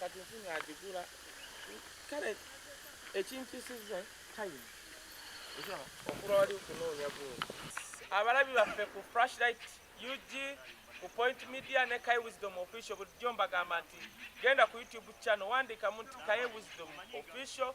kati nfunye agigula kale ekimpisiza time okula wali okunoonya gundi abalabi baffe ku flashlight ug ku point media ne kai wisdom official bulijjo mbagamba nti genda ku youtube channel wandikamu nti kai wisdom official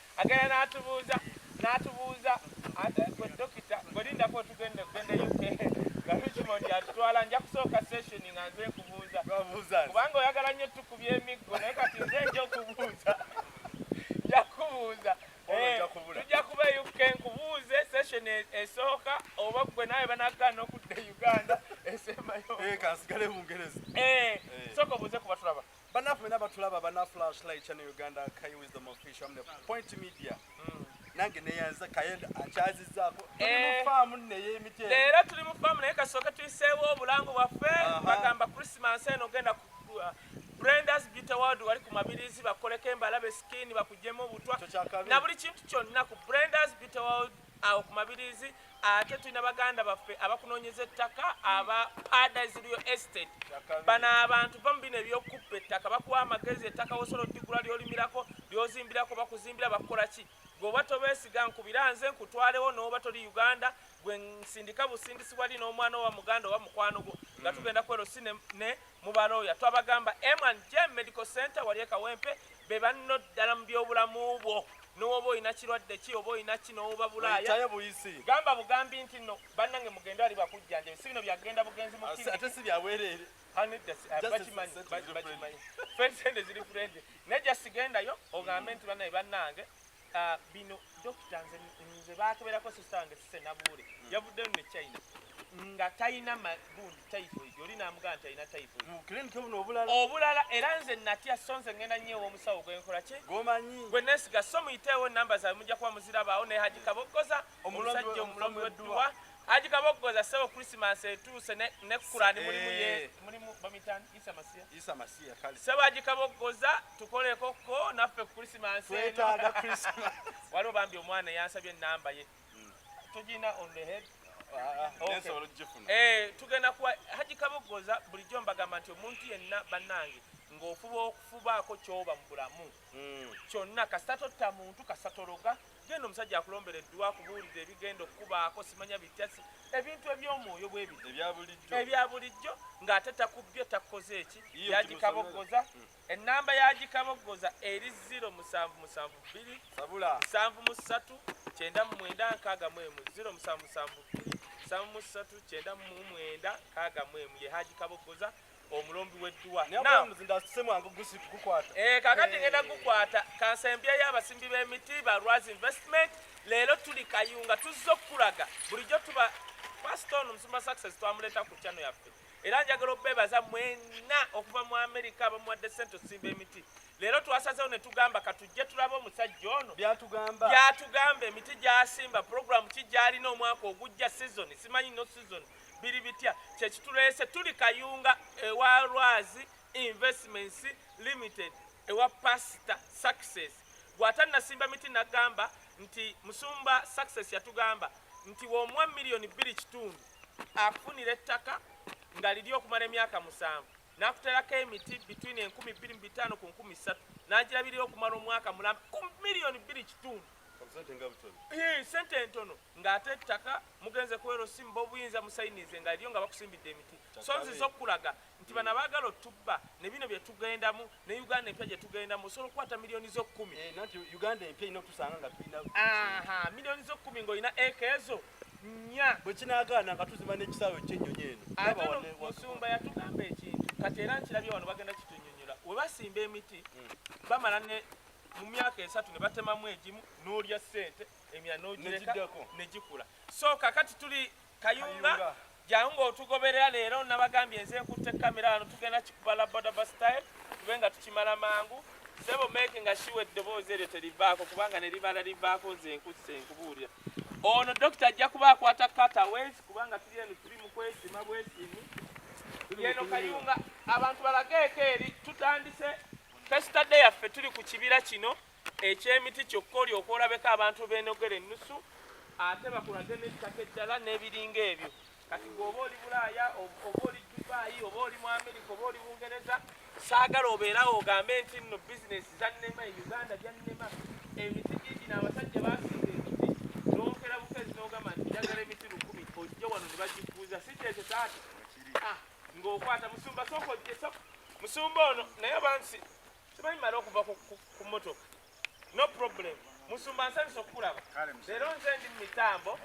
Agenda n'atubuuza n'atubuuza gwe dokita gwe lindako otugende okugenda UK nga Richmond yatutwala nja kusooka session nga nze nkubuuza kubanga oyagala nnyo tukubya emiggo naye kati nze nja okubuuza nja kubuuza eh, tujja kuba e UK nkubuuze session e, esooka oba gwe nawe banagaana okudda e Uganda esembayo eh, kansigale Bungereza eh, sooka obuuze kuba tulaba Banafu mena batulaba bana flash light channel Uganda Kai Wisdom Official amne Point Media. Mm. Nange neyanza kayenda akyazizako. Eh. Tuli mu farm ne ye mite. Leero tuli mu farm naye kasoka tuyiseewo obulango bwaffe bagamba Christmas eno genda ku uh, Brenda's Beauty World wali ku mabirizi bakoleko embalabe skin bakujemu obutwa na buli kintu kyonna ku Brenda's Beauty World awo ku mabirizi ate tulina baganda baffe abakunoonyeza ettaka aba paradise real estate bano abantu va mu bino ebyokukuppa ettaka bakuwa amagezi ettaka wosobola odigula lyolimirako lyozimbirako bakuzimbira bakukola ki gweoba tobeesiga nkubira nze nkutwalewo nooba toli uganda gwe nsindika busindisibwa li n'omwana owa muganda oba mukwano gwo nga tugenda kwero si ne mu balooya twabagamba M&J Medical Center wali e Kawempe be banno ddala mu byobulamu bwo nowoba olina kirwadde ki oba olina ki nowoba bulaaya gamba bugambi nti no bannange mugende ali bakujjanjabi si bino byagenda bugenzi muate si byabwereere fensende ziri furende naye jasigendayo ogambe nti banaye bannange Ah, bino dokita nze nze bakeberako sister wange sise nabuule hmm. yavuddeyo ne china nga talina magundi typhoid oli namugamba nti alina typhoid obulala era nze natya so nze ngenda nyo ewomusawo gwenkola ki gwe nesiga so muyiteewo enamba zawe mujja kuba muzirabaawo naye hajikabokkoza omusajja omulombi wedduwa Haji Kaboggoza ssebo Christmas etuuse ne ne Kurani mulimu ye eh. mulimu bamitan Isa Masiya Isa Masiya kale ssebo Haji Kaboggoza tukoleko ko naffe Christmas twetaaga Christmas waliwo bambi omwana yansabye namba ye hmm. tujina on the head ah, ah, ah, eh, tugenda kuwa Haji Kaboggoza bulijjo mbagamba nti omuntu yenna bannange ng'ofuba okufubaako kyoba mu bulamu hmm. kyonna kasita totta muntu kasita tologa Genda omusajja akulombere edduwa akubuulire ebigenda okukubaako simanya bitya si ebintu eby'omwoyo bwe bino ebya bulijjo ebya bulijjo ng'ate takubbye takukoze eki Yiyo yagikaboggoza ennamba yagikaboggoza eri ziro musanvu musanvu bbiri sabula nsanvu mu ssatu kyenda mu mwenda nkaaga mu emu ziro musanvu musanvu bbiri nsanvu mu ssatu kyenda mu mwenda nkaaga mu emu ye hagikaboggoza omulombi w'edduwa eh, kakati eh. ngenda gukwata kansembya y'abasimbi b'emiti ba raz investment leero tuli kayunga tuzze okukulaga bulijjo tuba pasita ono omusumba success twamuleeta ku kyano yaffe era njagala obebaza mwena okuva mu amerika abamuwadde sente osimba emiti leero twasazewo ne tugamba katujje tulaba omusajja ono byatugamba emiti gyasimba puroguramu ki gyalina omwaka ogujja sizoni simanyi no sizoni biri bitya kyekituleese tuli kayunga ewa lwazi investments limited ewa pasita success gwatanasimba miti nagamba nti musumba success yatugamba nti womuwa miliyoni bbiri kitundu afunira ettaka nga liri okumala emyaka musanvu nakuterako emiti between enkumi bbiri mu bitaano ku nkumi ssatu nagirabirira okumala omwaka mulamba ku miliyoni bbiri kitundu sente entono nga ate ettaka mugenze ku LC mba obuyinza musayinize nga eriyo nga bakusimbidde emiti so nziza okukulaga nti bano abaagala otubba ne bino bye tugendamu ne uganda empya gye tugendamu osobola okukwata miliyoni z'okkumi eh, miliyoni z'okkumi ng'olina eka ezo nnya bwe kinaagaana nga tuzima n'ekisaawe ekyennyonyi eno ate no musumba yatugamba ekintu kati era nkirabye wano bagenda kitunyonyola we basimba emiti hmm. bamala ne mu myaka esatu ne batemamu egimu n'olya ssente emira nogireka negikula so kakati tuli kayunga jangu ngaotugoberera leero nabagambye nze nkutte kamera wano tugenda kikuba labodaba style tube nga tukimala mangu sebo meke nga shiwa eddoboozi eryo terivaako kubanga neribala livaako nze nkusse nkubuulira ono dokita ajja kuba akwata kata wesi kubanga tuli eno tuli mukwesima bwesimu yeno kayunga abantu balageeko eri tutandise fesita de yaffe tuli ku kibira kino eky'emiti kyokka olyoka olabeko abantu beenogera ennusu ate bakulage n'ettaka eddala n'ebiringa ebyo kati gweoba oli bulaaya oba oli dubaayi oba oli mu amerika oba oli bungereza saagala obeerawo ogambe nti nno bizinesi zannema e uganda byannema emiti giigi n'abasajja baasinga emiti n'okera bukezi n'ogamba nti njagala emiti lukumi ojja wano ne bagifuuza si kyekyo taata ah, ng'okwata musumba sooka ojje musumba ono naye bansi Tubamala okuva ku motoka. No problem. Musumba nsanyusa okukulaba. Leero nze ndi mu mitambo.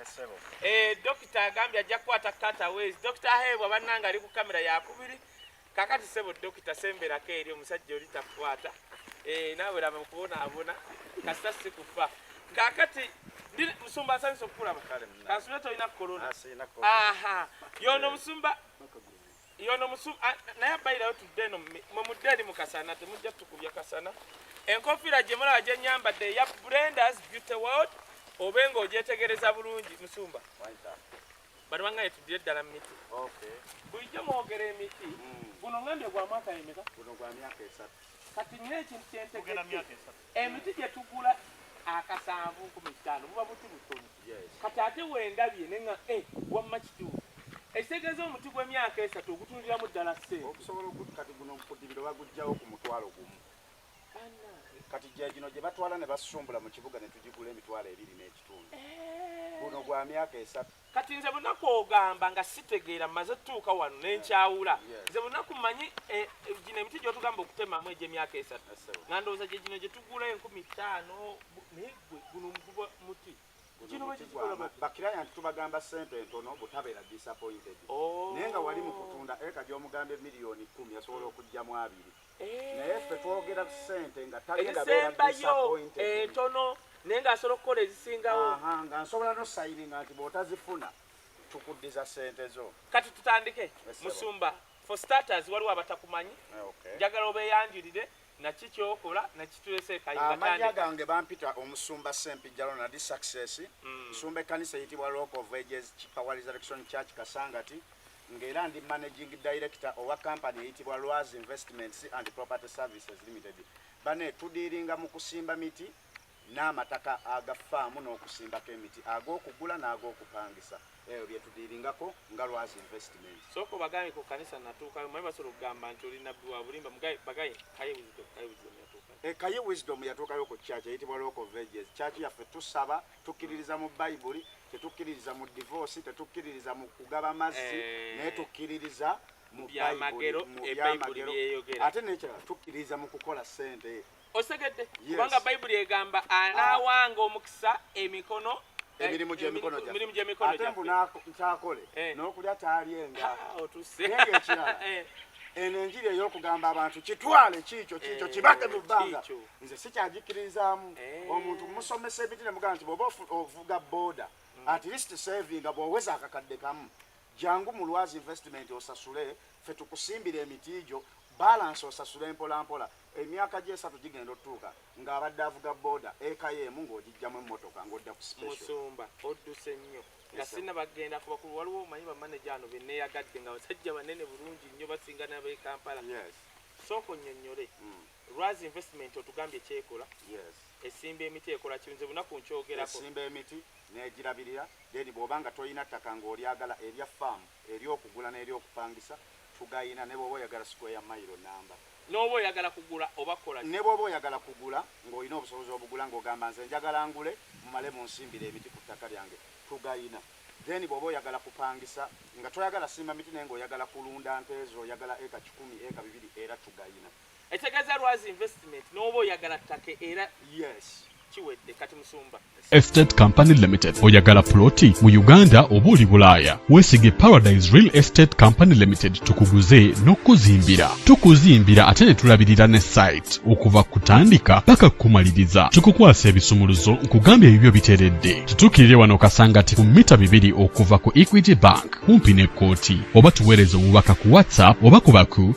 Eh, dokita agambye ajja kukwata cutaways. Dokita Heebwa bannanga ali ku kamera yakubiri. Kakati sebo dokita semberako eri omusajja oli takukwata. Eh, naawe laba mukubonaabona. Kasita si kufa. Kakati musumba nsanyusa okukulaba. Kansubire tolina corona. Ah, Aha. Yono musumba. yono musu naye abairayo tudde eno mwe mudde eri mu kasana temujja tukubya kasana enkofiira gye mulaba gye nyambadde eya brendas beauty world obe nga ogyetegereza bulungi musumba bano bangaye tuddire ddala mu miti bulijjo mwogera emiti hmm. guno ngambye gwa mwaka yemeka kati nyo ekintu kyentegeera Emiti gye tugula akasanvu nkumi ttaano buba buti butono. Kati ate wendabye ne nga eh, wamma kituufu ekitegeeza omuti gw'emyaka esatu ogutundiramu ddala ssente. Okusobola oku kati guno mukudibiro baguggyawo ku mutwalo gumu. Kati gye gino gye batwala ne basumbula mu kibuga ne tugigula emitwalo ebiri n'ekitundu. Eh. Guno gwa myaka esatu. Kati nze bunaku ogamba nga sitegeera maze tuuka wano nenkyawula nze bunaku manyi e, e, gino emiti gyotugamba okutemamu egyemyaka esatu nga ndowooza gye gino gyetugula enkumi ttaano naye gwe guno muguba muti bakiraya nti tubagamba sente entono butabeera disappointed oh. naye nga wali mu kutunda eka gyomugambye miliyoni kumi asobola okujjamu abiri eh. naye ffe twogera ku sente nga tagendaezisembayo entono eh, naye nga asobola okukola ezisingawo nga nsobola nosayininga nti bwotazifuna tukuddiza sente zo kati tutandike musumba for starters waliwo abatakumanyi eh, njagala obeyanjulire naki kyokola nakitulese kayamanya gange bampita omusumba sempijalo nadi success mm. nsumba ekkanisa eyitibwa local vages power resurrection church kasangati ng'era ndi managing director owa kampani eyitibwa Lwazi Investments and Property Services Limited. Bane tudiiringa mu kusimba miti n'amataka aga faamu n'okusimbako emiti ag'okugula n'ag'okupangisa ebyo bye tudiiringako nga Lwazi Investment. Sooka obagaye ku kanisa natuukayo manyi basobola okugamba nti oli nabbi wa bulimba bagaye kaye wisdom kaye wisdom yatuukayo. E eh, kaye wisdom yatuukayo ku church eyitibwa Local Villages church yaffe tusaba tukkiririza mu bayibuli tetukkiririza mu divoosi tetukkiririza mu kugaba mazzi eh. naye tukkiririza mu byamagero eh, ate nekirala tukkiririza mu kukola sente osegedde kubanga bayibuli egamba anaawanga ah. omukisa emikono eh, emirimu gyemikono ate mbu nkyakole n'okulya taalyenga ah, ekirala eno enjiri ey'okugamba abantu kitwale kiikyo kiikyo kibake mu bbanga nze sikyagikiririzaamu eh. omuntu musomesa ebiti nemugamba nti bwoba ovuga boda mm. at least savinga bwoweza akakadde kamu jangu mu lwazi investment osasule fe tukusimbira emiti gyo balansi osasule mpolampola emyaka gyesatu gigenda otutuuka ng'abadde avuga boda ekayo emu ng'ogijjamu emmotoka ng'odda ku specialmusumba odduse nnyo nga sina bagenda kuba ku waliwo omanyi bamaneja ano beneyagadde nga basajja banene bulungi nnyo basinga nabekampala sooka onnyonnyole mm. Lwazi investment otugambye kyekola yes. esimba emiti ekola ki nze bunaku nkyogerako esimba emiti negirabirira then bwoba nga tolina ttaka ng'olyagala erya farm eryokugula n'eryokupangisa tugayina ne bwoba oyagala square mailo namba n'oba oyagala kugula oba kukola ki ne bwoba oyagala kugula ng'olina obusobozi obugula ng'ogamba nze njagala ngule mumale munsimbire emiti ku ttaka lyange tugayina then bwoba oyagala kupangisa nga toyagala simba miti naye ng'oyagala kulunda nte zo oyagala eka kikumi eka bibiri era tugayina Ekitegeza lwazi investment n'oba oyagala ttake era yes kiwedde kati musumba Estate Company Limited oyagala ploti mu Uganda oba oli Bulaaya weesige Paradise Real Estate Company Limited tukuguze n'okukuzimbira tukuzimbira ate ne tulabirira ne site okuva kutandika paka kukumaliriza tukukwasa ebisumuluzo nkugambye ebibyo biteredde tutuukirire wano kasangati ku mita bibiri okuva ku Equity Bank kumpi n'ekkooti oba tuweereze obubaka ku WhatsApp oba kubaku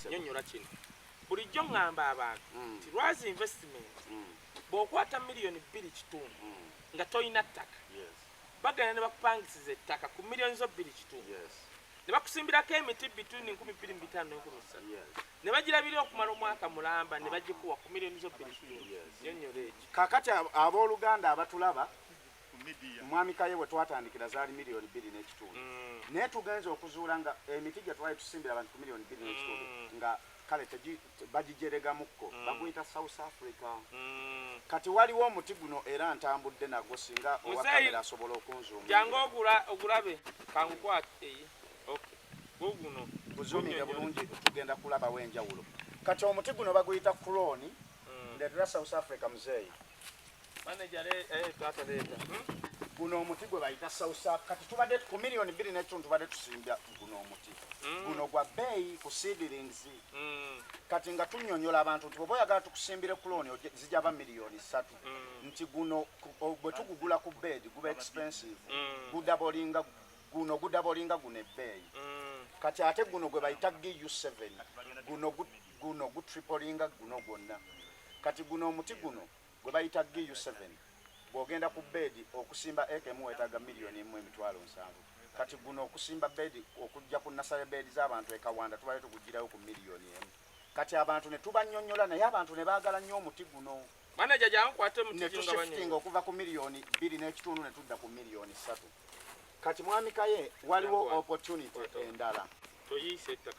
nyonyola kino bulijjo ŋŋamba abantu mm. nti lwazi investment mm. bw'okwata miliyoni bbiri kitundu mm. nga tolina ttaka bagenda ne bakupangisiza ettaka ku miliyoni zo bbiri kitundu ne bakusimbirako emiti bituni nkumi bbiri mu bitaano nenkumi ssatu ne bagirabira okumala omwaka mulamba ne bagikuwa ku miliyoni zo bbiri kitundu nyonyola ekyo kakati ab'oluganda abatulaba omwamikaye we twatandikira zaali miliyoni bbiri n'ekitundu mm. naye tugenza okuzuula nga emiti gye twali tusimbira abantu ku miliyoni bbiri n'ekitundu mm. nga kale bagijeregamukko mm. baguyita south africa kati waliwo omuti guno era ntambudde nagwo singa owakamera asobola okunzuumjanga ogulabe kangukwate guguno guzuumire bulungi tugenda kulabawo enjawulo kati omuti guno baguyita croni ndetera south africa muzeeyi Manager le eh tata leta. Guno omuti gwe bayita sausa kati tubadde ku million bili ne tuntu tubadde tusimbya guno omuti. Mm. Guno gwa bay ku seedlings. Mm. Kati nga tunyonyola abantu nti boya gatu kusimbira kuloni zija ba million 3. Mm. Nti guno bwe tugugula ku bed gube expensive. Mm. Guda bolinga guno guda bolinga gune bay. Mm. Kati ate guno gwe bayita GU7. Guno guda guno gutripolinga guno gwonna kati guno omuti guno gwe bayita GU7 bw'ogenda ku beedi okusimba eka emu weetaaga miliyoni emu emitwalo nsanvu kati guno okusimba beedi okujja ku nasale beedi z'abantu e Kawanda tubale tugugirayo ku miliyoni emu kati abantu ne tubanyonyola naye abantu ne baagala nnyo omuti guno netusifitinga okuva ku miliyoni bbiri n'ekitundu ne tudda ku miliyoni ssatu kati mwamikaye waliwo opportunity endala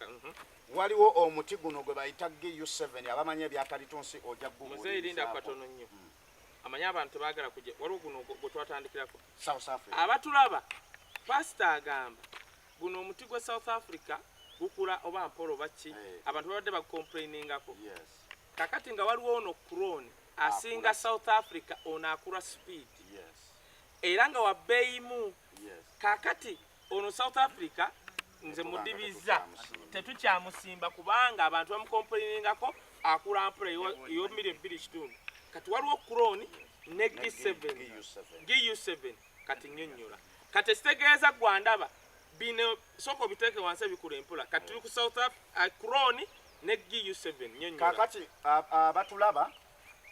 mhm. Waliwo omuti guno gwe bayita GU7 abamanyi ebyakalitunsi oja gugu. Muzeyi linda katono nnyo. Mm. Amanyi abantu tebagala kujja. Waliwo guno gwe twatandikirako. South Africa. Abatulaba pastor agamba guno omuti gwe South Africa gukula oba mpolo baki hey. Eh. abantu babadde bakomplainingako yes. kakati nga waliwo ono crone asinga south africa ono akula speed yes. era nga wabbeeyimu yes. kakati ono south africa nze mudibiza tetukyamusimba kubanga abantu bamukompoliningako akula mpula eyomiri ebbiri kitundu kati waliwo okukuroni ne g7 gu7 kati nyonyola kati ekitegeeza gwandaba bino soko biteeke wansi ebikula empula kati tuli ku south africa kuroni ne gu7 nyonyola kakati abatulaba uh, uh,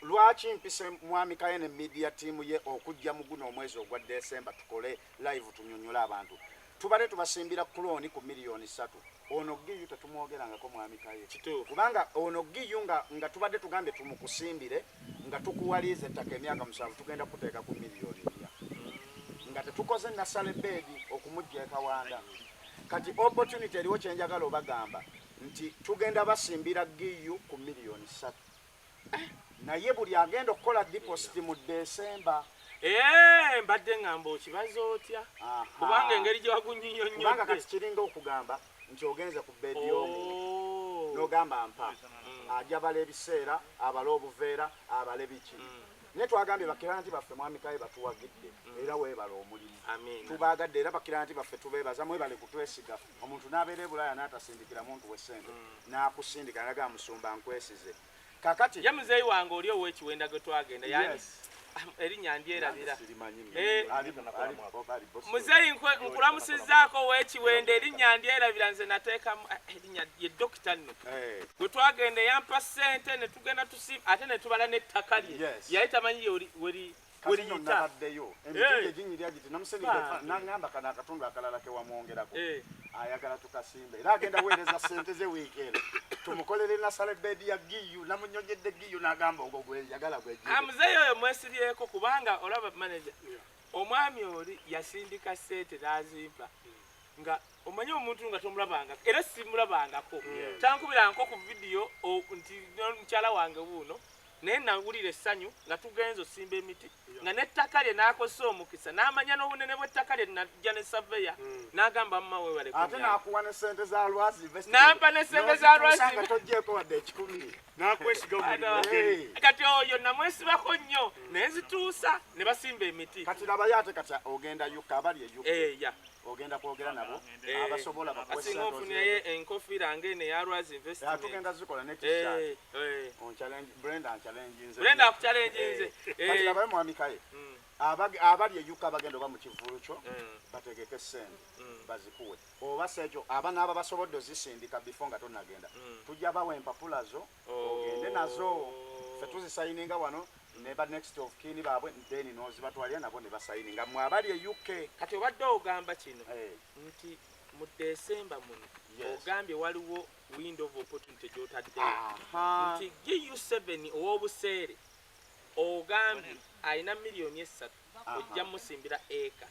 Lwaki mpise mwami kaye ne media team ye okujja muguno omwezi ogwa December tukole live tunyonyole abantu tubade tubasimbira kuloni ku milioni satu ono giyu tetumwogerangako mwami kaye kubanga ono giyu nga, nga tubadde tugambye tumukusimbire nga tukuwaliiza ettaka emyaka musanvu tugenda kuteeka ku milioni nya nga tetukoze nasale beedi okumujja ekawanda kati opportunity eriwo kyenjagala obagamba nti tugenda basimbira giyu ku milioni satu naye buli agenda okukola deposit mu desemba eh, mbadde ngamba okibaza otya kubanga engeri gyewagunyiyonyobanga kati kiringa okugamba nti ogenze ku bedi y'omuntu oh. nogamba mpa mm. ajabala ebiseera abale obuveera abale biki mm. naye twagambye bakiranti baffe mwamikaye batuwagidde mm. era webala omulimu tubaagadde era bakiranti baffe tubeebaza mwebale kutwesiga omuntu n'abeera ebulaaya n'atasindikira muntu we ssente mm. n'akusindika nga ga musumba nkwesize kakati ye muzeeyi wange oli ow'ekiwenda gwe twagenda yani erinnya ndyerabira eh, muzeeyi nkulamusizaako ow'ekiwenda erinnya ndyerabira nze nateekamu eh, erinnya ye dokita nno eh. gwe twagenda eyampa ssente ne tugenda tusi ate ne tubala n'ettaka lye yali tamanyi weri nabaddeyo emitundi eginyirya giti namusenedde nangamba kana akatundu akalala kewamwongerako eh. ayagala tukasimba era agenda weereza sente ze wiiki eno tumukolere nasale bedi ya giyu namunyonyedde giyu nagamba ogwo gweyagala gwemuzeeyi oyo mwesibyeko kubanga olaba manaja omwami oli yasindika sente nazimpa nga omanyi omuntu nga tomulabangako era simulabangako tankubirankoko vidiyo nti mukyala wange buuno Naye nnawulira essanyu nga tugenze osimba emiti nga n'ettaka lye n'akozesa omukisa n'amanya n'obunene bw'ettaka lye najja ne saveya hmm. n'agamba mama weebale ate n'akuwa ne ssente za lwazi n'ampa ne ssente za lwazi nga toggyeeko wadde ekikumi kati oyo namwesibako nnyo hmm. naye zituusa ne basimba emiti kati labayo ate kati ogenda yuka abali eyuka eh, ogenda kwogera nabo eh. abasobola bakuweasingaofunaye enkofiira nga eno eya lwazi investmtugenda zikola nekisatbrenda akucalenjinze abaye mwamikaye hmm. abali eyuka bagenda oba mu kivulu kyo hmm. bategeke sente hmm. bazikuwe oba sekyo abana aba basobodde ozisindika bifo nga tonagenda tujja bawa empapula zo oh. ogende nazo fe tuzisayininga wano ne ba next of kin babwe then nozibatwalira nabo ne basayini nga mwe abali e UK. Kati obadde ogamba kino eh. nti mu December muno ogambye waliwo window of opportunity gyotadde nti GU7 ow'obuseere ogambye alina miliyoni essatu ojja musimbira eka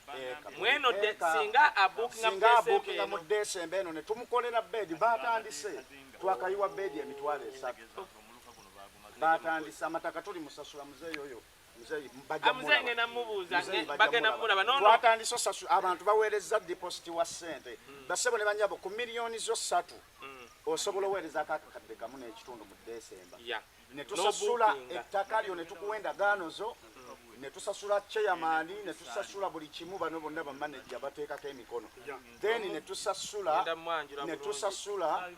mweno singa abukinga mu desemba eno netumukolera bedi batandise twakayiwa bedi emitwalo esatu batandise amataka tuli musasula muzeeyi oyo twatandise osasu abantu baweereza dipositi wa sente hmm. basebo ne banyabo ku miliyoni zo satu hmm. osobola oweerezako akakadde kamu n'ekitundu mu desemba ne tusasula ettaka lyo ne tukuwa endagaano zo ne tusasula cheyamaani ne tusasula buli kimu bano bonna bamaneja bateekako emikono then ne tusasula ne tusasula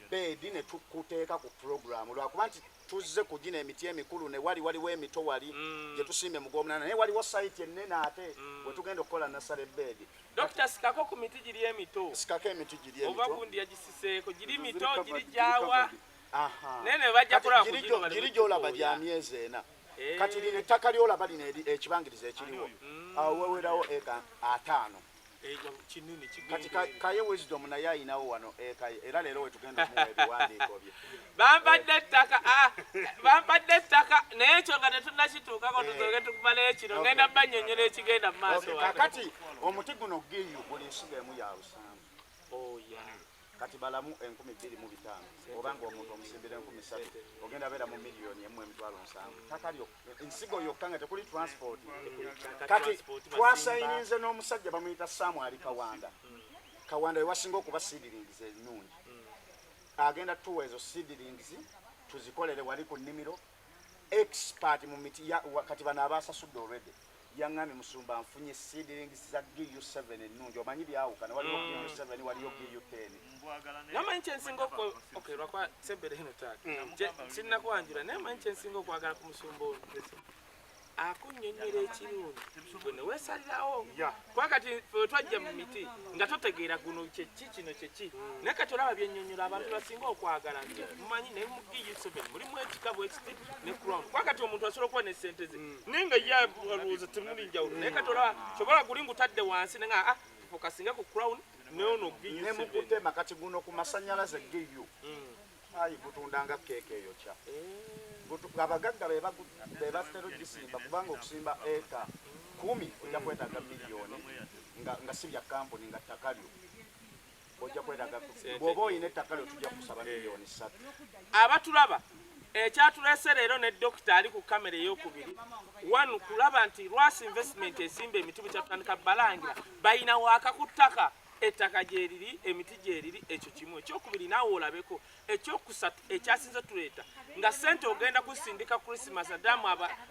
beedi ne tukuteeka ku pulogulaamu lwakuba nti tuzze ku gino emiti emikulu ne wali waliwo emito wali mm. gye tusimbye mu gwomunana naye waliwo sayiti ennene ate mm. we tugenda okukola nasale beedi dokita sikako ku miti giri emito sikako emiti giri emito oba gundi yagisiseeko giri mito giri gyawa naye nebajja kulaba kugirijolaba gya myezi ena eh. kati lino ettaka lyolaba lino ekibangiriza ekiriwo mm. awo wewerawo eka ataano eh, kati kaye wisdom naye ayinawo wano ekaye eh, era leero wetugenda omuwa ebiwandiiko bye bampadde ettaka ah, bampadde ettaka naye ekyo nga tetunakituukako tuzoge tukumalayo kino ngenda banyonyola ekigenda mu maaso kakati omuti guno giyu buli nsiga emu yabusa Oh, kati balamu enkumi bbiri mu bitaano oba nga omuntu omusimbira enkumi ssatu ogenda beera mu miliyoni emu emitwalo nsanvu ttaka ensigo yokka nga tekuli transport kati twasayininze n'omusajja bamuyita saamu ali kawanda mm. kawanda wewasinga okuba seedlings ennungi mm. agenda tuwa ezo seedlings tuzikolere wali ku nnimiro expert mu miti ya wa- kati bano abasasudde already yangambye musumba nfunye seedlings za gu 7 ennungi omanyi byawukana waliwo gu 7 waliyo gu 10 Mbwagala naye namanyi kyensinga oku- Mukama okay asinzire. lwakuba sebere hino taata Mm. Je- sinnakwanjula naye manyi kyensinga okwagala ku musumba ono akunyonyola ekirungi gwe newesalirawo kuba kati twajja mu miti nga totegeera guno kyeki kino kyeki hmm. naye kati olaba byenyonyola abantu basinga okwagala nti mumanyi naye mugiuseven mulimu ekika bwekiti ne crown kuba kati omuntu asobola okuba ne sente ze hmm. naye nga ye alowooza temuli njawulo naye kati olaba kyobola guli ngutadde wansi naye nga ah, fokasinga ku crown neono giuseven ne mukutema kati guno ku masanyalaze giu hmm. Ayi gutunda nga keeka eyokya. Gutu- Abagagga be bagu- be batera okugisimba kubanga okusimba eka kkumi ojja kwetaaga miliyoni nga, nga si bya kampuni nga ttaka lyo ojja kwetaaga bw'oba olina ettaka lyo tujja kusaba miliyoni ssatu. abatulaba ekyatulese leero ne dokita ali ku kamera eyokubiri wanu kulaba nti lwasi investment esimba emiti bukyatandika balangira bayina waaka ku ttaka ettaka gyeriri emiti gyeriri ekyo kimu ekyokubiri naawe olabeko ekyokusatu ekyasinze tuleeta nga sente ogenda kusindika christmas adamu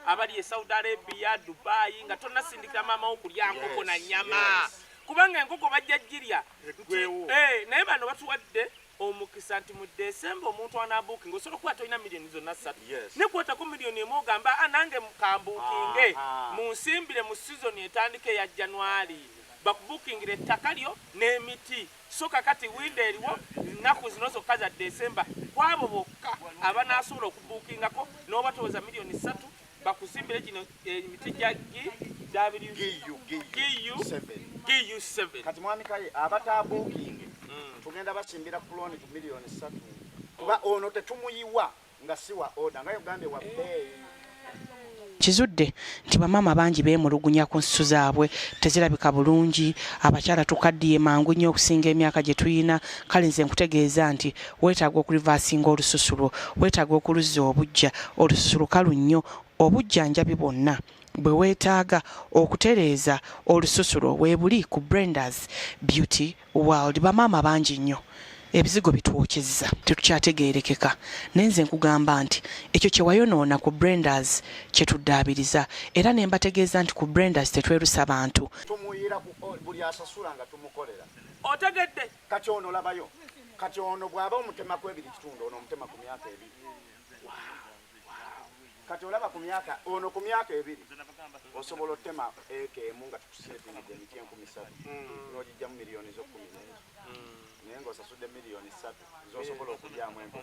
abali e saudi arabia dubayi nga tonasindikira maamawo kulya nkoko na nyama kubanga enkoko bajja jirya eh, naye bano batuwadde omukisa nti mu December omuntu anabuukinga osobola okuba tolina millioni zonna ssatu ne kwotako millioni emu ogamba a ah, nange kambuukinge munsimbire mu sizoni etandika eya January bakubuukingire ettaka lyo n'emiti so kakati winda eriwo nnaku zino zokka za December kwabo bokka abanaasobola okubuukingako n'oba toweza millioni ssatu bakuzimbire kino eh, emiti gya GU7 kati mwami kaye abataabuukinge mm. tugenda basimbira kuloni ku miliyoni satu kuba ono tetumuyiwa nga si wa oda nga uganda wa beeyi kizudde nti bamaama bangi beemulugunya ku nsusu zaabwe tezirabika bulungi abakyala tukaddiye mangu nnyo okusinga emyaka gye tulina kale nze nkutegeeza nti Weetaaga okulivaasinga olususu lwo. Weetaaga okuluzza obuggya. Olususu lukalu nnyo. Obujjanjabi bwonna bwe weetaaga okutereeza olususu lwo weebuli ku Brenda's Beauty World. Bamaama bangi nnyo ebizigo bitwokyezza tetukyategeerekeka naye nze nkugamba nti ekyo kye wayonoona ku Brenda's kye tuddaabiriza era ne mbategeeza nti ku Brenda's tetwerusa bantu. Tumuyira ku buli asasula nga tumukolera. Otegedde? kati ono labayo kati ono bwaba omutema ku ebiri kitundu ono omutema ku myaka ebiri kati olaba ku myaka ono ku myaka ebiri osobola otema eka emu nga tukusetingidde emiti enkumi satu mm. nogijjamu miliyoni zokumi nengi mm. naye ngaosasudde miliyoni satu zosobola okulyamu enku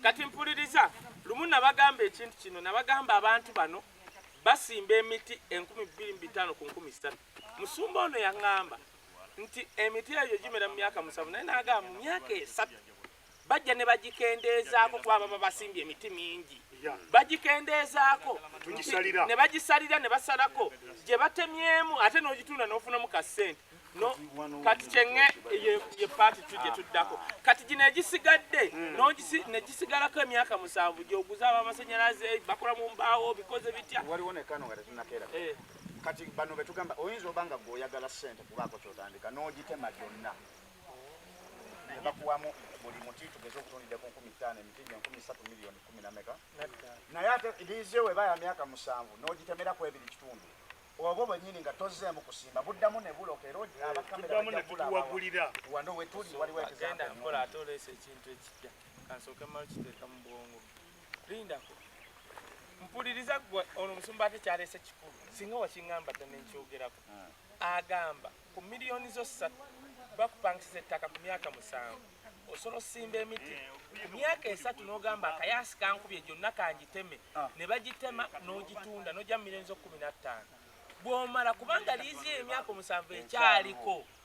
kati mpuliriza lumu nabagamba ekintu kino nabagamba abantu bano basimba emiti enkumi bbiri mu bitaano ku nkumi satu musumba ono yaŋŋamba nti emiti egyo gimera mu myaka musanvu naye nagamba mu myaka esatu bajja ne bagikendeezaako kuba baba basimbye emiti mingi bagikendeezaako ne bagisalira ne basalako gye batemyemu ate n'ogitunda n'ofunamu ka ssente no kati kyenge ye paati tujje tuddako kati gino egisigadde hmm. ne gisigalako emyaka musanvu gyoguza abamasannyalaze bakola mu mbaawo bikoze bitya waliwo nekano nga tetunakeera eh. kati bano betugamba oyinza oba nga gwe oyagala sente kubaako kyotandika n'ogitema gyonna bakuwamu buli muti tugeze okutundidde ku nkumi ttaano emiti gye nkumi ssatu miliyoni kumi na meka naye ate liizi ewe baya myaka musanvu n'ogitemerako ebiri kitundu obwo bwenyini nga tozzeemu kusimba buddamu ne buloka era abakameraawano wetuli waliwo ekizaagenda mpola ate oleesa ekintu ekijja kansooke malo kiteeka mu bwongo lindako mpuliriza gwe ono omusumba ate kyaleese kikulu singa wakiŋamba dda nenkyogerako hmm. agamba ku miliyoni zo ssatu bakupangisiza ettaka ku myaka musanvu osobola osimba emiti eh, ku myaka esatu n'ogamba akayaasi kankubye gyonna kangiteme ah. ne bagitema n'ogitunda n'ogya mu miliyoni zo kkumi na ttaano bw'omala kubanga liizi emyaka omusanvu ekyaliko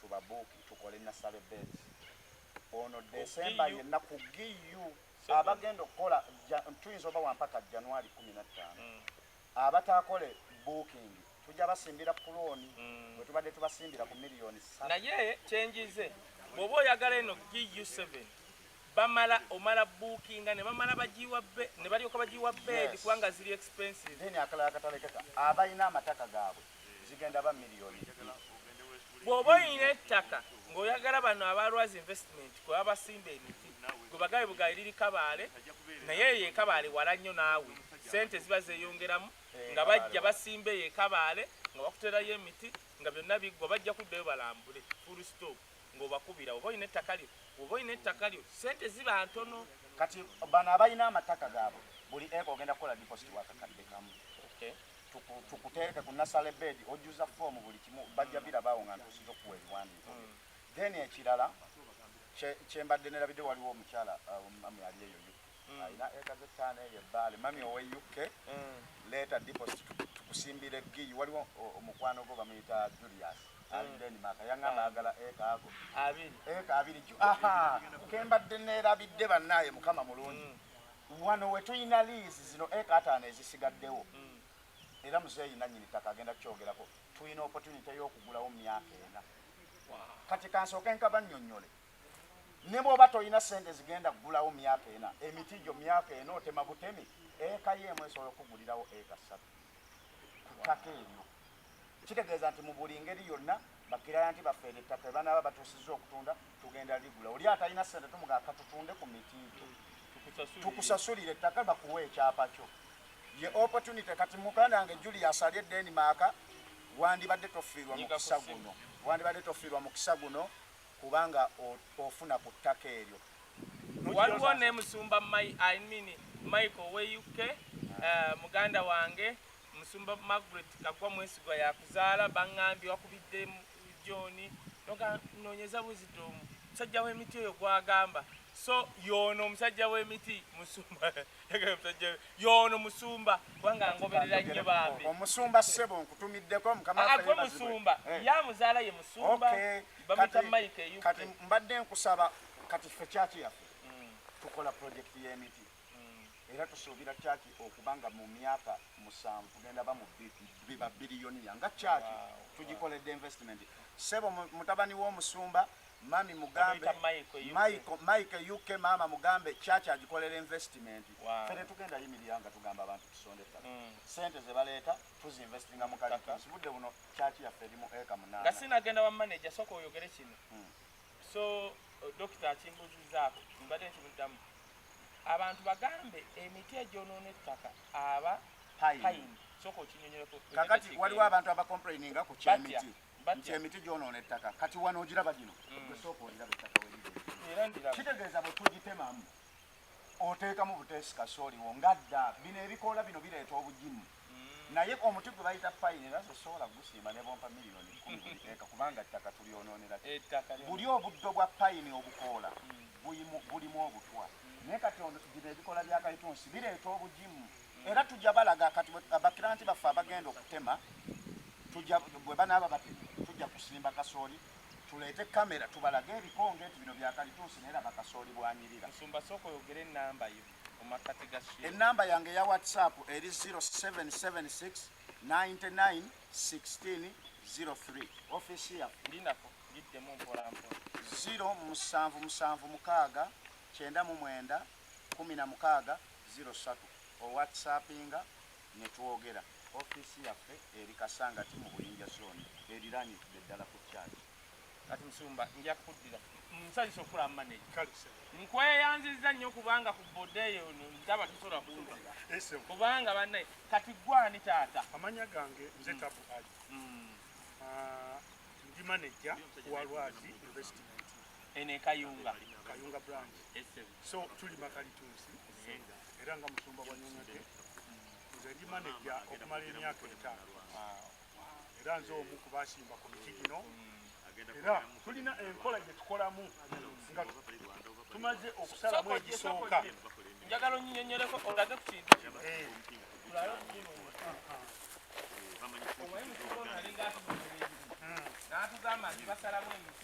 tubabuuki tukole nasale bed ono desemba yenna ku giu abagenda okukola tuyinza oba wampaka januari kumi na ttaano mm. abataakole booking tujja basimbira ku looni mm. bwe tubadde tubasimbira ku miliyoni naye kyenjize bwoba oyagala eno giu 7 bamala omala bookinga ne bamala bagiwa be ne balyoka bagiwa bed kubanga ziri expensive then akalala katalekeka abalina amataka gaabwe zigenda ba million bwoba oyina ettaka ng'oyagala bano abalwazi investment kuba basimba emiti gwe bagabe bugabe liri kabaale naye eyo ekabaale wala nnyo naawe sente ziba zeyongeramu eh, nga bajja basimba eyo ekabaale nga bakuterayo emiti nga byonna biggwa bajja kuddayo balambule full stop ng'obakubira oba olina ettaka lyo oba olina ettaka lyo sente ziba ntono kati bano abalina amataka gaabwe buli eka ogenda kukola deposit wakakadde kamu tukutereke ku nasale bed ojuza foomu buli kimu bajja birabaawo nga ntuusiza okuwa ebiwandiiko mm. then ekirala kyembadde nerabidde waliwo omukyala uh, mami ali eyo uk mm. alina eka zetaano eyo ebbaale mami owe uk mm. leeta deposit tukusimbira eggiyi waliwo omukwano gwo bamuyita julius alideni maka yangamba agala eka ago eka abiri kembadde nerabidde bannaaye mukama mulungi Wano we tulina liizi zino eka ataano ezisigaddewo era muzeeyi nannyini ttaka agenda kukyogerako tulina opotunite y'okugulawo myaka ena. Kati kansooke nkabannyonnyole ne bw'oba tolina ssente zigenda kugulawo myaka ena emiti gyo myaka ena otema butemi eka yo emu esobola okukugulirawo eka ssatu ku ttaka eryo. Kitegeeza nti mu buli ngeri yonna bakirayanti baffe eryo ettaka lye banaaba batuusizza okutunda tugenda ligula. Oli atalina ssente tumugamba ka tutunde ku miti gyo tukusasulire ettaka bakuwe ekyapa kyo. Ye opportunity kati muganda wange Julius ali e Denmark wandibadde tofiirwa mukisa guno wandibadde tofiirwa mukisa guno kubanga ofuna ku ttaka eryo waliwo ne musumba michael we uk eh, muganda wange Musumba Margaret Kagwa Mwesigwa yakuzaala bangambye wakubidde John nonyeza buzito omu musajja w'emiti oyo gwagamba so yono omusajja w'emiti musumba musajja yono musumba kubanga ngoberera nnyo bambi omusumba ssebo nkutumiddeko mukamagwe musumba eh. ya muzaala ye musumba bamuyita mike kati mbadde nkusaba kati ffe kyaki yaffe hmm. tukola pulojekiti y'emiti era tusuubira kyaki okuba nga mu myaka musanvu tugenda ba biba biriyoniya nga kyaki tugikoledde investment sebo mutabani w'omusumba mami mugambe mike uk maama mugambe kyaki agikolera investment fe tetugenda yimirira nga tugamba abantu tusonde ettaka mm. sente zebaleeta tuziinvestinga mu kalitasi budde buno kyaki yaffe eri mu eka munaana nga sinagenda bamanaja soka oyogere kino mm. so dokita akimbuzizaako mbadde nkimuddamu abantu bagambe emiti egyonoona ettaka aba payini soka okinyonyoleko kakati waliwo abantu abakomplaininga ku kyemiti nti emiti gyonoona ettaka kati wano ogiraba gino mm. gwesooka oliraba ettaka weriri kitegeeza bwe tugitemamu oteekamu buteesi kasooli wo nga dda bino ebikoola bino bireeta obugimu naye omuti gwe bayita payini era nze sobola kugusiima ne bompa miliyoni kkumi buli teeka kubanga ettaka tulyonoonera buli obuddo bwa payini obukoola bulimu obutwa naye kati bino ebikola bya kalitunsi bireeta obugimu era tujja balaga kati bakiranti baffe abagenda okutema bwe banaaba batema tujja kusimba kasooli Tuleete camera tubalage ebikonge nti bino bya kalituusi naye laba kasooli bwanyirira. Musumba sooka oyogere ennamba yo mu makkati ga shehe. Ennamba yange eya WhatsApp eri 0776 99 16 03 office ya Ndinako giddemu mpola mpola. 0 musanvu musanvu mukaaga kyenda mu mwenda kumi na mukaaga 03 o WhatsAppinga ne twogera. Ofiisi yaffe eri Kasangati mu Buyinja Zooni eriraanidde ddala ku Church. Kati Musumba nja kukuddira. Nsanyuse okukulaba maneja. Nkweyanzizza nnyo kubanga ku boda eyo ndaba tosobola kumpa. Kubanga bannaye kati ggwe ani taata? Amanya gange nze mm. Tabu Ali. Mm. Ah, ndi maneja wa Lwazi Investment. ene kayunga kayunga branch so tuli makalitunsi era nga musumba wa nyonyode nze ndi manager okumala emyaka etaano era nze omu ku basimba ku miti gino era tulina enkola gye tukolamu nga tumaze okusalamu egisooka njagala onyinyonyoleko olage ku kintu kino eh. natugamba nti basalamu emiti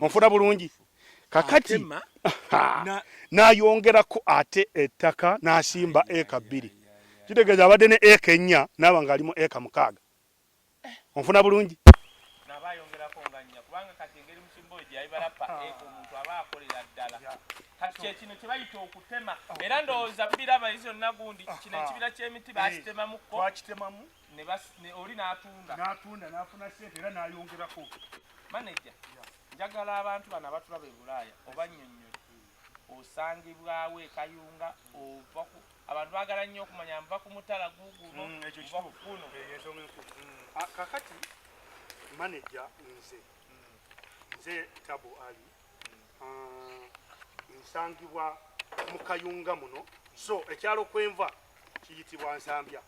onfuna bulungi kakati nayongerako ate ettaka nasimba eka bbiri kitegeeza abadde ne eka ennya naaba nga alimu eka mukaaga eh. onfuna bulungi kyekino kyebayita okutema era ndowooza biraba izo nagundi kino ekibira kyemiti bakitemamuko ne bas ne oli natunda natunda nafuna sente era nayongerako manager njagala abantu bana batula be bulaya oba nyonyo osangibwawo ekayunga ova ku abantu bagala nnyo okumanya nva ku mutala guguno mm, ekyo kikuno eh, mm. ah, kakati manager nze mm. nze tabu ali ah, nsangibwa mu kayunga muno so ekyalo kwenva kiyitibwa nsambya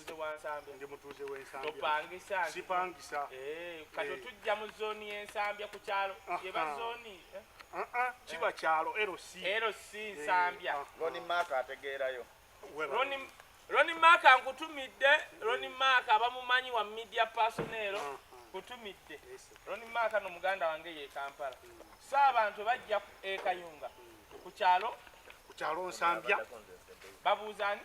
mutuuze wa Nsambya. Ndi mutuuze w'e Nsambya. Topangisa. Sipangisa. Eh, kati eh. tujja mu zooni y'e Nsambya ku kyalo. Yeba zooni. Eh? Ah, ah, kiba eh. kyalo LC. LC Nsambya. Ah, Roni Maka ategeerayo. Roni Roni Maka nkutumidde. Roni Maka abamumanyi wa media personnel. Kutumidde. Roni Maka no muganda wange ye Kampala. Saabantu bajja e Kayunga. Mm. ku kyalo ku kyalo nsambya babuuza ani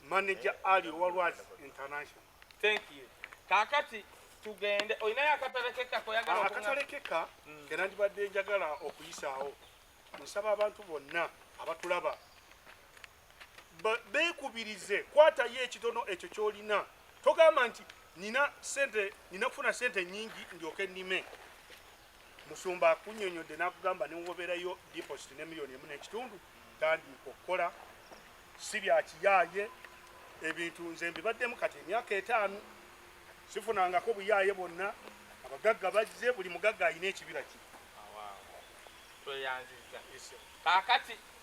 manager ali owalwazi international thank you kakati tugende olinayo akatale keka koyagala ah, akatale keka mm. kena ndibadde njagala okuyisaawo nsaba abantu bonna abatulaba beekubirize kwatayo ekitono ekyo kyolina togamba nti nina sente nina kufuna sente nyingi ndyoke nime musumba akunyonyodde nakugamba newoberayo deposit ne million emu nekitundu tandiika okukola si byakiyaye ebintu nze mbibaddemu kati emyaka etaano sifunangako buyaye bwonna abagagga bazze buli mugagga alina ekibira kye tweyanziza kakati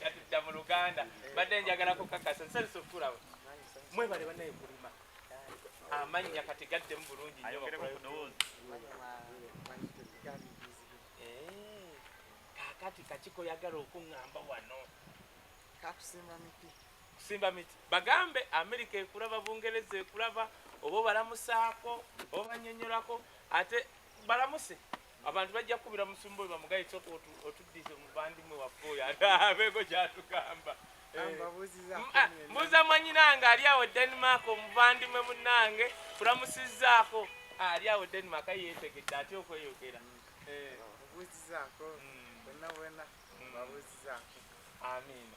katudda mu luganda mbadde njagala kukakasa nsanisa okukulaba mwebale banaye kulima amannya kati gaddemu bulungi nyo kakati kakiko yagala okuŋamba wano kakusimba miti Kusimba miti. Bagambe Amerika ekulaba, Bungereza ekulaba, oba obalamusaako, obanyonyolako, ate balamuse. Abantu bajja kukubira musumba oyo bamugaye soka otuddize mu bandimwe waffe oyo abeego kyatugamba. Eh, ah, mbuuza mwanyinange ali awo Denmark omuvandimwe munange kulamusizaako ah, ali awo Denmark yetegedde atya okweyogera. Mm. Eh. Obuuzizaako, mm. wena wena, mm. obuuzizaako. Amiina.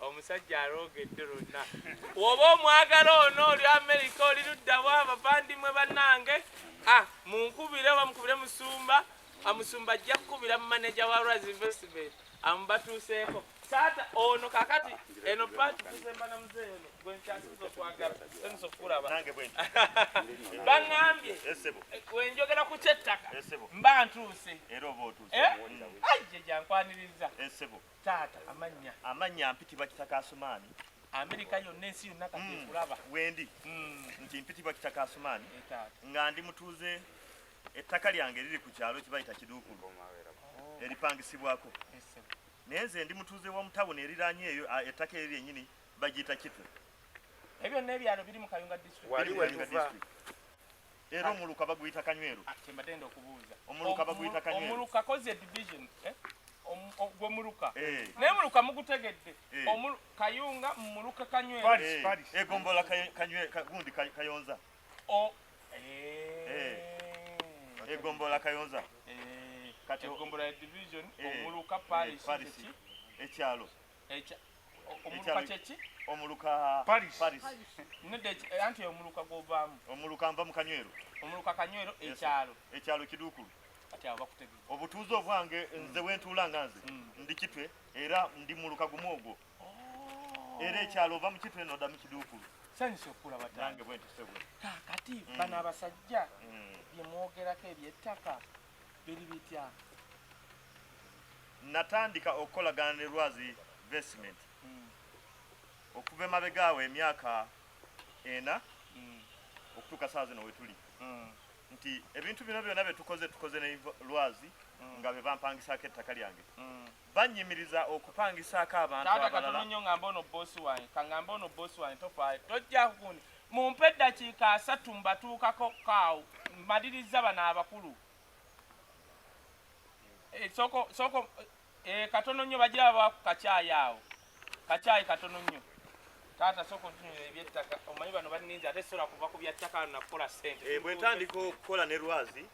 omusajja alooga eddo lonna woba omwagala ono oli amerika oli luddawa abavandimwe bannange ah, munkubire oba mukubire musumba amusumba ah, ajja kukubira mu maneja wa raz investment amubatuuseeko taata ono kakati eno paati tuzemba na muzee ono gwenkyasiza okwagala eniza okukulaba baŋambye wenjogera ku kyettaka mba ntuuse era oba otuuse eh? ajje gyankwaniriza taata amannya amannya mpitibwa kitaka asumaani amerika yonna ensi yonna kati mm. ekulaba wendi mm. nti mpitibwa kitaka asumaani eh, nga ndi mutuuze ettaka lyange liri ku kyalo kibayita kiduukulu oh. eripangisibwako naye nze ndi mutuuze wa mutawuni eriranye eyo ettaka eri lyenyini bagiyita kitwe ebyo byonna ebyalo biri mu kayunga district Era omuluka baguyita Kanyweru. Ah, Kyembadde enda okubuuza. Omuluka baguyita Kanyweru. Omuluka koze division. Eh? gwe muluka eh. naye muluka mugutegedde eh. kayunga muluka kanywegombola gundi kayonza egombola kayonza kati egombola division omuluka paris ekyalo omuluka kyeki omuluka paris paris nedde eh, anti omuluka gwovaamu omuluka nva mu kanywero omuluka kanywero ekyalo ekyalo kiduukulu kati abo bakutegeza obutuuze obwange mm. nze wentuula nga nze mm. ndi kitwe era ndi muluka gumu ogwo oh. era ekyalo ova mu kitwe noda mu kiduukulu sanyusa okukula batange bwentusebwe kakati mm. bano abasajja byemwogerako ebyettaka biri bitya natandika okukolagana ne lwazi investment mm. okuva emabega awo emyaka ena mm. okutuuka saa zino wetuli mm. nti ebintu bino byona byetukoze tukoze ne lwazi mm. nga bebampangisako ettaka lyange mm. bannyimiriza okupangisaako abantu abalala. Taata katono nnyo ng'amba ono bboosi wange, ka ng'amba ono bboosi wange tofaayo, tojja kukundi. Mumpe eddakiika asatu mbatuukako kaawo, mmalirizza bano abakulu. Eh, soko, soko, eh, katono nnyo bagira baba ku kacaayi awo. Kachai katono nnyo. Taata soko ntunyira ebyettaka. Omanyi bano banninza ate sola kuva ku byattaka na kukola ssente. Eh, bwe ntandika okukola ne lwazi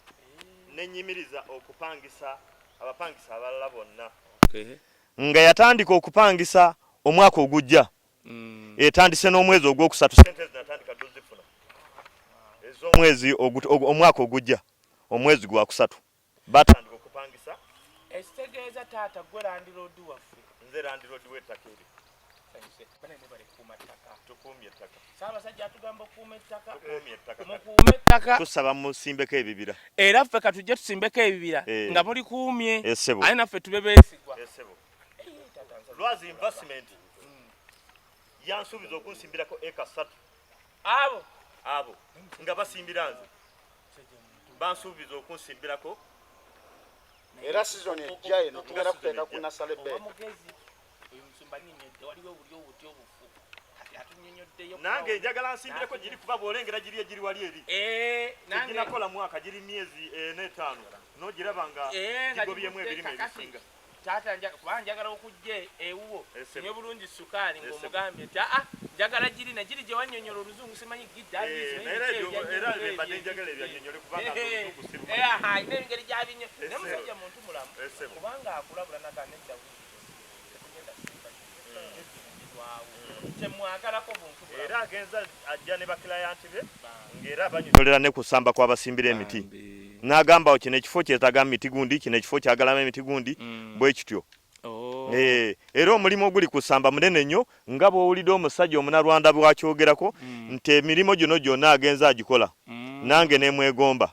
ne nyimiriza okupangisa abapangisa abalala bonna. Okay. Nga yatandika okupangisa omwaka ogujja. Mm. Etandise n'omwezi ogwokusatu ssente zinatandika dozifuna. Ez'omwezi omwaka ogujja omwezi gwa kusatu. batandika okupangisa ekitegeeza taata gwe landiroodi waffe nze landiroodi w'ettaka eri tusaba musimbeko ebibira era ffe katujje tusimbeko ebibira eh. nga muli kuumye eh, aye naffe tube beesigwa eh, lwazi investment hmm. yansuubiza okunsimbirako eka satu abo abo nga basimbira nze bansuubiza okunsimbirako era sizoni ejja eno tugenda kuteeka ku nasale be nange njagala nsimbireko giri kuba bwolengera giri egiri wali eri eh, ginakola mwaka giri myezi ena eh, etaano nogiraba nga eh, gigobyemu ebirime ebisinga taata nja kuba njagala okujja ewuwo sinywe bulungi sukaali ng'omugambye nti aa njagala giri na giri gye wannyonnyola oluzungu simanyi giddaalinaengeri gyabinnyo naye musajja muntu mulamu kubanga akulabula naga nedda era agenza ajja ne bakilayanti be ng'era banyonyolera ne kusamba kw'abasimbira emiti n'agamba kino ekifo kyetaga miti gundi kino ekifo kyagalama emiti gundi mm. bwe kityo oh. eh, era omulimu oguli kusamba munene nnyo nga bw'owulidde omusajja omunarwanda bwakyogerako mm. nti emirimu gino gyonna agenza agikola mm. nange nemwegomba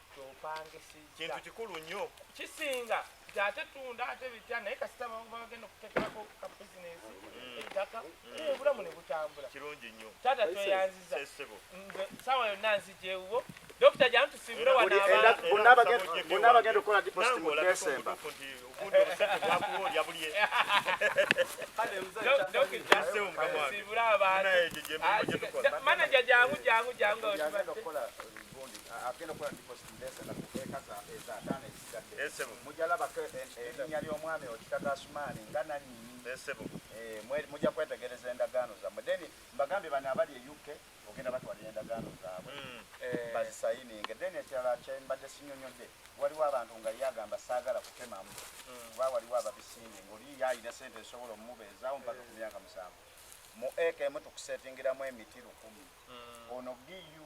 kintu kikulu nnyo kisinga nti ate tunda ate bitya naye kasita bagenda okutekerako ka bizinesi mm. ettaka mm. obulamu ne butambula kirungi nnyo taata tweyanziza sawa yonna nzijewuwo dokita jamu tusimbule wanaabonna bagenda okukola diposit mu desemba manaja jangu jangu jangu mujja kwetegereza endagaano zammwe then mbagambye bano abali e uk ogenda batwalira endagaano zaabwe hmm. eh. bazisayininge then ekirala kyembadde sinyonyodde waliwo abantu nga ye agamba saagala kutemamu hmm. kuba waliwo ababisinge ngaoli yayina sente esobola omubeezaawo mpaka ku myaka musanvu mu eka emu tukusetingiramu emiti lukumi hmm. ono bu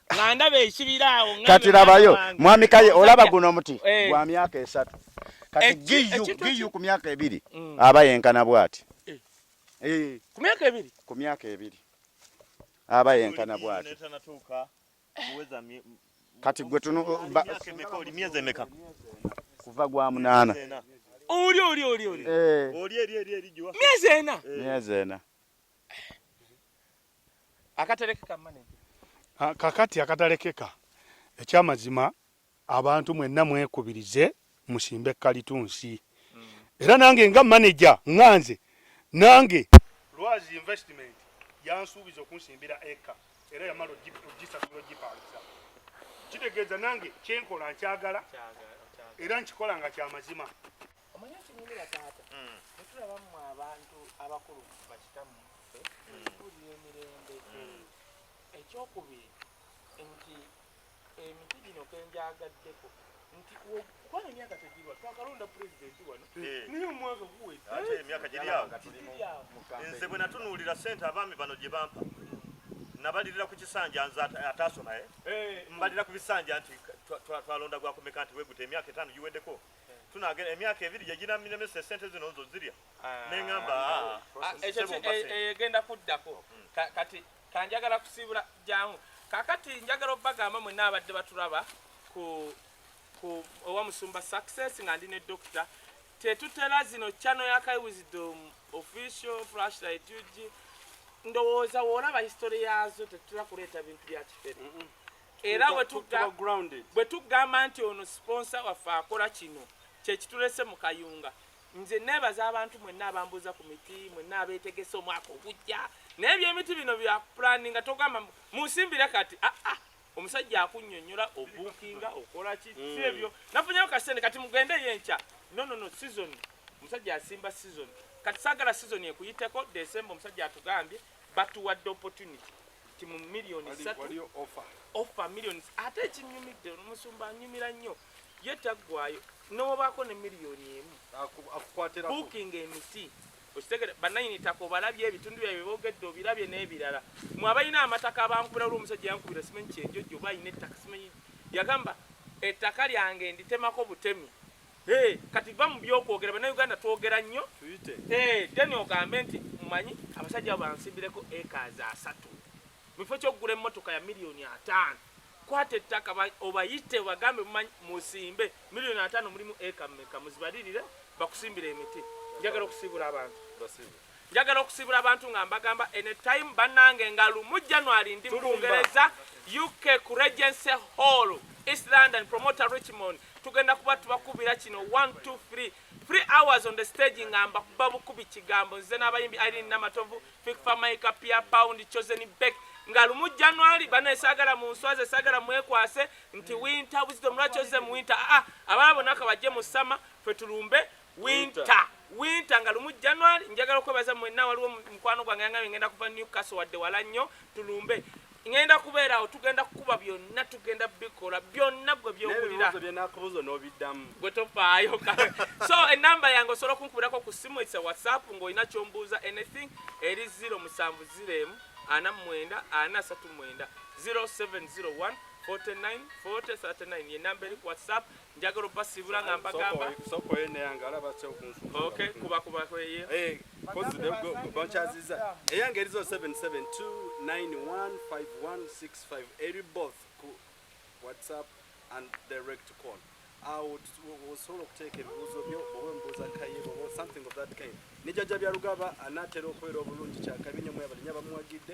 nga ndaba ekibira awo kati labayo mwami kaye olaba guno omuti eh. gwa myaka esatu kati giyu giyu ku myaka ebiri mm. aba yenkana bwati eh. Eh. ku myaka ebiri ku myaka ebiri aba yenkana bwati kati gwe tunu myezi emeka kuva gwa munaana oli oli oli oli oli eri eri eri myezi ena myezi ena akaterekeka manager ah, kakati akatalekeka ekyamazima abantu mwenna mwekubirize musimbe kalitunsi mm. era nange nga manager nganze nange lwazi investment yansuubiza okunsimbira eka era yamala ogisasula ogipangisa kitegeeza nange kyenkola nkyagala era nkikola nga kyamazima omanyi okinyumira taata mm. netulaba mu abantu abakulu bakitamu tulira mm. emirembe mm. ekyokubiri nti emiti gino kenjagaddeko nti kubanga emyaka tegirwa twakalonda pulezidenti wano eh. naye omwaka guwedde emyaka giryawo nze bwe natunuulira sente abaami bano gye bampa nabalirira ku kisanja nze ataasoma eh? eh. mbalira ku bisanja nti twalonda gwakumeka nti weguta emyaka etaano giweddeko tunagenda emyaka ebiri gyeginamiremesa esente zino nzo zirya ah. neŋamba ah, ah, egenda eh, eh, kuddako hmm. kati kanjagala kusiibula jangu kakati njagala obagamba mwena abadde batulaba ku ku owa musumba success nga ndi ne dokita tetutera zino chano ya kai wisdom official flashlight ug ndowooza woolaba history yaazo tetutera kuleeta bintu bya kifere era bwe tugamba nti ono siponsa waffe akola kino kyekitulese mu kayunga nze nebaza abantu mwenna abambuuza ku miti mwenna abetegese omwaka ogujja naye ebyemiti bino byakupulaninga togamba munsimbire kati aa ah, ah, omusajja akunyonyola obukinga okola ki hmm. si ebyo nafunyewo kasente kati mugende yo enkya nonono sizoni omusajja asimba sizoni kati sagala sizoni ekuyiteko desemba omusajja atugambye batuwadde opportunity nti mu million satu offer million ate ekinyumidde omusumba anyumira nnyo ye taggwayo nowobaako ne million emu booking emiti okitegere bananyini taka obalabye ebitundu byae byebogedde obirabye n'ebirala mwe abalina amataka abankubira lwo omusajja yankubira simanyi kyenjojo oba alina ettaka simanyi yagamba ettaka lyange nditemako butemi Hey, kati va mu byokwogera bannayuganda twogera nnyo hey, then ogambe nti mumanyi abasajja abo bansimbireko ekazi asatu mu kifo kyokugula emmotoka ya miliyoni ataano kwata ettaka obayite obagambe mumanyi musimbe miliyoni ataano mulimu eka meka muzibalirire bakusimbire emiti njagala okusiibula abantu njagala okusiibula abantu nga mbagamba any time bannange nga lumu january ndi mu bungereza uk ku regency hall east london promoter richmond tugenda kuba tubakubira kino 123 free hours on the stage nga mbakuba bukubi kigambo nze n'abayimbi irene namatovu fikfamaika pia pound chosen bek nga lumu january bana esagala mu nswazi esagala mwekwase nti winter wisdom lwaki oze mu winter aa ah, ah, abala bona ka bajje mu sama fe tulumbe winter winter nga lumu january njagala okwebaza mwenna waliwo mukwano gwange yangambe ngenda kuva newcastle wadde wala nnyo tulumbe ŋenda kubeera awo tugenda kukuba byonna tugenda bikola byonna gwe byowulira gwe tofaayo so enamba yange osobola okunkubirako ku simu esa whatsapp ng'olina kyombuuza anything eri 0 musanvu 0 emu ana mwenda ana asatu mwenda 0701 49 40 39 yenamba eri ku whatsapp njagala obasiibula nga mbagamba bankyaziza eyange erizo 77291516 eri both ku whatsapp and direct call awo osobola okuteeka ebibuuzo byo oba embuuza kayiro something of that kind nejajja byalugaba anaatera okubeera obulungi kyakabi nyo mwebalinya bamuwagidde